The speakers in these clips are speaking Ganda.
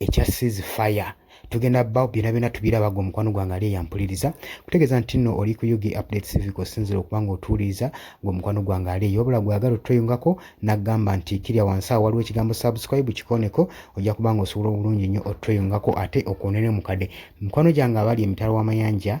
ekya seas fire tugenda ba byona byona tubiraba gwe mukwano gwange ali eyampuliriza kutegeeza nti nno oli ku ug update civic osinzira okuba nga otuwuliriza gwe mukwano gwange ali eyo wabula gweyagala otweyungako nagamba nti kirya wansi awo waliwo ekigambo subscribe kikoneko ojja kuba nga osobola obulungi nnyo otweyungako ate okwonere mukade mikwano gyange abali emitala w'amayanja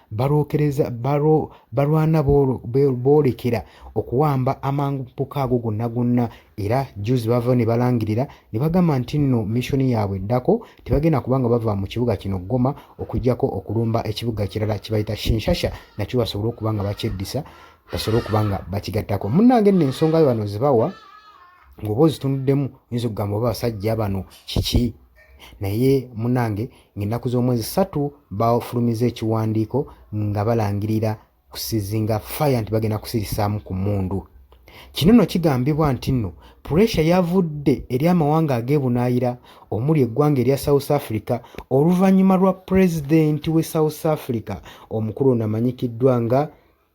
balwokereza balwana boolekera okuwamba amangu mpuka ago gonna gonna era juzi bavayo ne balangirira ne bagamba nti nno missoni yaabwe eddako tebagenda kubanga bava mu kibuga kino goma okujjako okulumba ekibuga kirala kibayita shinshasha nakyo basobole okuba nga bakyeddisa basobole okuba nga bakigattako munnange nno ensonga yo bano zibawa ng'oba ozitunuddemu oyinza okugamba oba basajja bano kiki naye munange Ng'ennaku z'omwezi ssatu baafulumizza ekiwandiiko nga balangirira kusizinga fire nti bagenda kusirisaamu ku mmundu. Kino nno kigambibwa nti nno puresha yavudde eri amawanga ag'ebunaayira omuli eggwanga erya South Africa oluvannyuma lwa pulezidenti w'e South Africa omukulu ono amanyikiddwa nga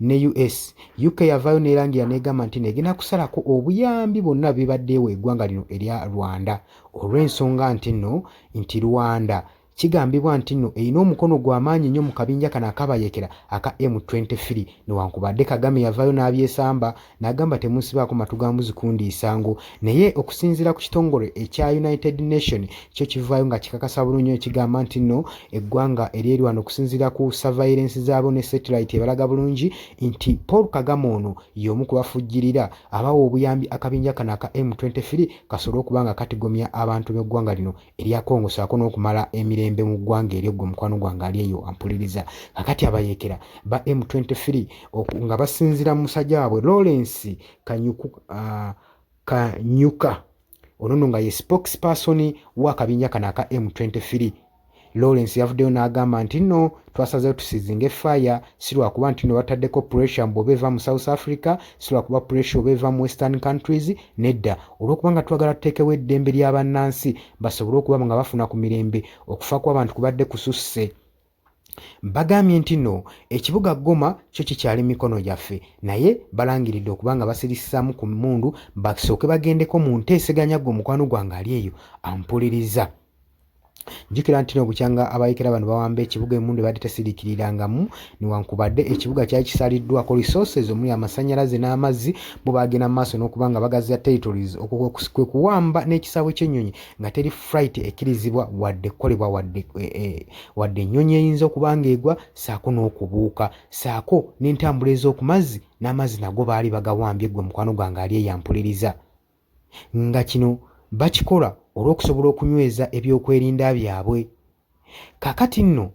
ne US. UK yavaayo neerangira negamba nti negenda kusalako obuyambi bwonna bibadde ewa egwanga lino erya Rwanda olw'ensonga nti no nti Rwanda kigambibwa nti no erina omukono gwa maanyi nnyo mu kabinja kano akabayekera aka M23 newankubadde Kagame yavaayo n'abyesamba n'agamba temunsibaako matu ga mbuzi kundiisa ngo naye okusinziira ku kitongole ekya united nation kyo kivaayo nga kikakasa bulungi ekigamba nti nno eggwanga eryerwana okusinziira ku surveillance zaabo ne satellite ebalaga bulungi nti paul kagame ono y'omu kubafujjirira abawa obuyambi akabinja kano aka m23 kasobole okuba nga katigomya abantu b'eggwanga lino erya Congo saako n'okumala emirembe mu ggwanga eryo ggwe mukwano gwange ali eyo ampuliriza kakati abayekera ba M23 nga basinzira mu musajja waabwe Lawrence Kanyuku, uh, Kanyuka ono no nga ye spokesperson w'akabinja kano aka M23 Lawrence yavuddeyo n'agamba nti nno twasazeewo tusizinge fire si lwakuba nti newataddeko pressure mbu oba eva mu south africa si lwakuba pressure oba eva mu western countries nedda olwokuba nga twagala tuteekewo eddembe lya bannansi basobole okuba nga bafuna ku mirembe okufa kw'abantu kubadde kususse bagambye nti no ekibuga goma kyo kikyali mikono gyaffe naye balangiridde okuba nga basirisizaamu ku mundu basooke bagendeko mu nteeseganya gwe omukwano gwange ali eyo ampuliriza jjukira nti no bukyanga abayekera bano bawamba ekibuga emundu ebadde tesiriikirirangamu newankubadde ekibuga kyali kisaliddwako resources omuli amasannyalaze n'amazzi bo baagenda mu maaso n'okuba nga bagaziya territories kwe kuwamba n'ekisaawe ky'ennyonyi nga teri fright ekkirizibwa wadde kukolebwa wadde e, e, wadde ennyonyi eyinza okuba ng'egwa saako n'okubuuka saako n'entambula ez'oku mazzi n'amazzi nago baali bagawambye gwe mukwano gwange ali eyampuliriza nga kino bakikola olw'okusobola okunyweza ebyokwerinda byabwe. Kakati nno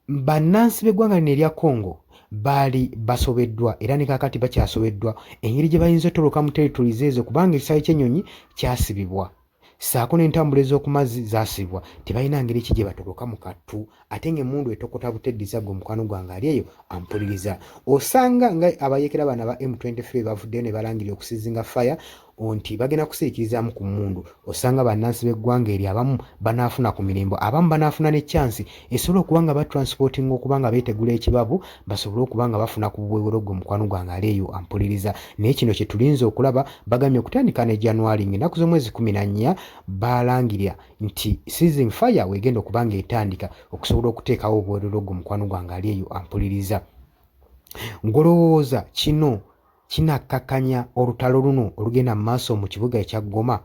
bannansi b'eggwanga lino erya Congo baali basobeddwa era ne kakati bakyasobeddwa engeri gye bayinza otoloka mu territories ezo kubanga ekisaawe ky'ennyonyi kyasibibwa ssaako n'entambula ez'oku mazzi zaasibwa tebalina ngeri ki gye batoloka mu kattu ate nga emundu etokota buteddiza gwe mukwano gwange ali eyo ampuliriza osanga nga abayekera bana ba m23 bavuddeyo ne balangirira okusizinga fire nti bagenda kusirikirizaamu ku mundu osanga bannansi b'eggwanga eryo abamu banaafuna ku mirembo abamu banaafuna ne kyansi esobola okuba nga batransportinga okuba nga beetegula ekibabu basobole okuba nga bafuna ku bubwewero gwe mukwano gwange ali eyo ampuliriza naye kino kye tulinza okulaba bagambye okutandika ne january ng'ennaku z'omwezi kumi na nnya baalangirira nti season fire wegenda okuba nga etandika okusobola okuteekawo obwerero gwo mukwano gwange ali eyo ampuliriza ngolowooza kino kinakkakanya olutalo luno olugenda mu maaso mu kibuga ekya goma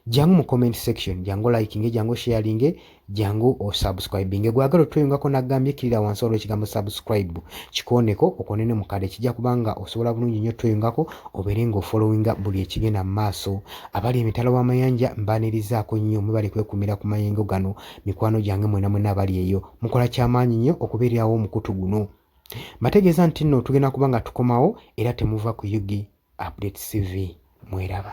jangu mu comment section jangu likinge jangu sharinge jangu osubscribinge gwagala otweyungako nagambye kirira wansi olwo ekigambo subscribe kikooneko okonene mukade kijja kubanga osobola bulungi nnyo tweyungako obeere nga ofollowinga buli ekigenda mu maaso Abali emitala w'amayanja mbaanirizaako nnyo mwebale kwekumira ku mayengo gano mikwano gyange mwena mwena abali eyo mukola kyamaanyi nnyo okubeererawo omukutu guno mbategeeza nti nno tugenda kuba nga tukomawo era temuva ku ug update cv mweraba